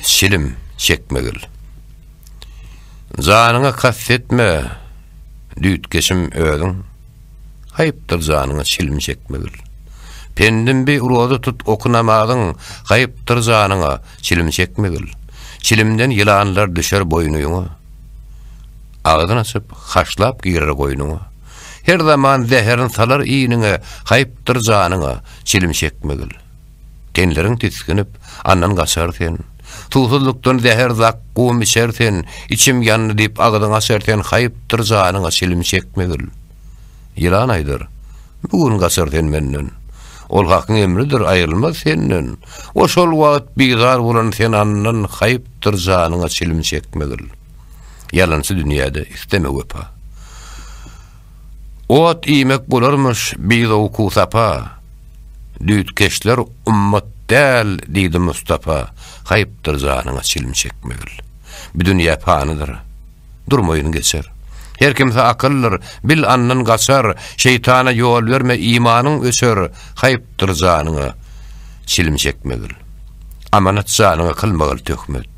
Çilim çekmegil. Janyňa kast etme, düýtgeşim özüň. Haýpdyr janyňa çilim çekmegil. Pendim bi roza tut oky namazyň, haýpdyr janyňa çilim çekmegil. Çilimden ýylanlar düşer boýnuňa. Agzyn açyp, haşlap girer goýnuňa. Her zaman zäherin salar iniňe, haýpdyr janyňa çilim çekmegil. Tenleriň tisginip, andan gaçar sen. Suwsuzlykdan zäher zak gum içer sen, Içim ýandy diýip agzyň açar sen Haýpdyr janyňa çilim çekmegil. Ýylan aýdar, Bu gün gaçar sen menden. Ol Hakyň emridir, aýrylmaz senden. Oşol wagt bizar bolan sen andan Haýpdyr janyňa çilim çekmegil. Ýalançy dünýäde isleme wepa. Ot iýmek bolarmyş bizowukusapa, Düýtkeşler ummat däl diýdi Mustapa, Haýpdyr janyňa çilim çekmegil. Bu dünýä panydyr, durmaýyn geçer. Her kimse akyldyr, bil andan gaçar, Şeýtana ýol berme imanyň öçer, Haýp. Dur janyňa çilim çekmegil. Amanat janyňa kylmagil töhmet.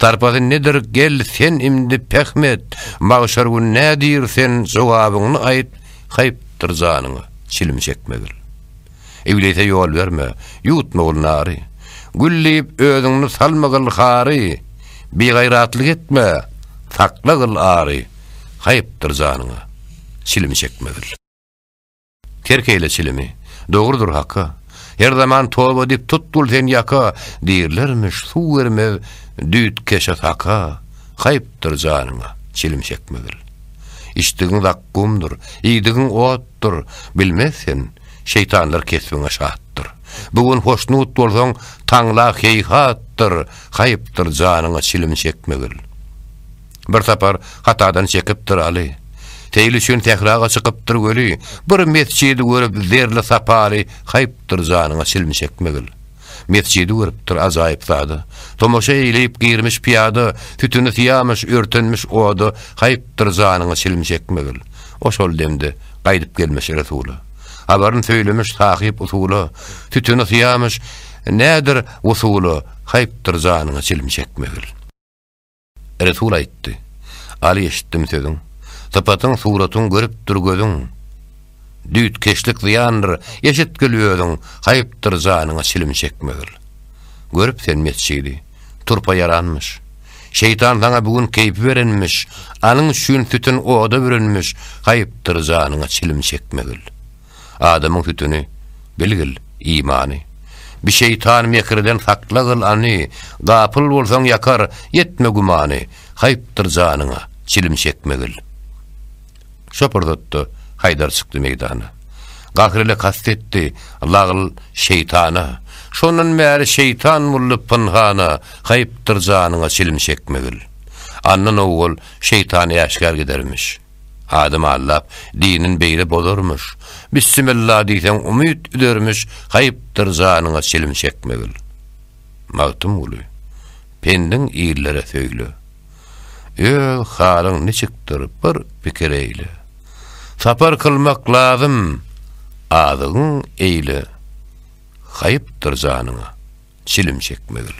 Sarpasy nedir gel sen imdi pähm et, Magşar gün nädir sen jogabyňny aýt, Haýp dur janyňa çilim çekmegil. Iblise ýol berme, ýutmagil nary, Gül diýip özüňni salmagil hary, Bigaýratlyk etme, saklagil ary, Haýp dur janyňa çilim çekmegil. Terk eýle çilimi. Dogrudyr haka. Her zaman toba edip tut bul sen ýaka, Diýirlermiş, suw bermez düýt keşe saka, Haýpdyr janyňa çilim çekmegil. Içdigiň zakgumdyr, iýdigiň otdur, Bilmez sen, şeýtanlar kesbiňe şatdyr. Bu gün hoşnut bolsaň, taňla heýhatdyr, Haýpdyr janyňa çilim çekmegil. Bir sapar hatadan çekipdir Aly. Seýil üçin sähraga çykypdyr weli, bir mesjidi görüp zerli sapaly haýpdyr janyňa çilim çekmegil. Mesjidi görüpdir ajaýyp zada. Tomaşa eýleýip girmiş pyýada, sütüni syýamyş, örtenmiş oda, haýpdyr janyňa çilim çekmegil. O şol demde gaýdyp gelmiş Resula. Habaryn söýlemiş sahyp usula, sütüni syýamyş, nädir wusula, haýpdyr janyňa çilim çekmegil. Resul aýtdy, Aly eşitdim sözüň, sypatyň, suratyň görüpdir gözüň. Düýtkeşlik zyýandyr, eşitgil özüň, haýpdyr janyňa çilim çekmegil. Görüp sen mesjidi, turpa ýaranmyş. Şeýtan saňa bu gün keýpi berenmiş, anyň üçin sütün oda bürenmiş, haýpdyr janyňa çilim çekmegil. Adamyň sütüni, bilgil, imany. Bi şeýtan mekirden sakla gyl any, Gapyl bolsaň ýakar, etme gümany, Haýpdyr janyňa, çilim çekmegil. Şo pursatda Haýdar çykdy meýdana. Gahr ile kast etdi, lagl, şeýtana, Şondan bäri şeýtan boldy pynhana, Haýpdyr janyňa, çilim çekmegil. Andan owal şeýtan äşgär gidermiş. Adam aldap, dinin beýle bozarmyş. Bissimilla diýseň umyt üzermiş, haýpdyr janyňa çilim çekmegil. Magtymguly, pendiň illere söýle. Öz halyň niçikdir, bir pikir eýle. Sapar kylmak lazym, azygyň eýle. Haýpdyr janyňa çilim çekmegil.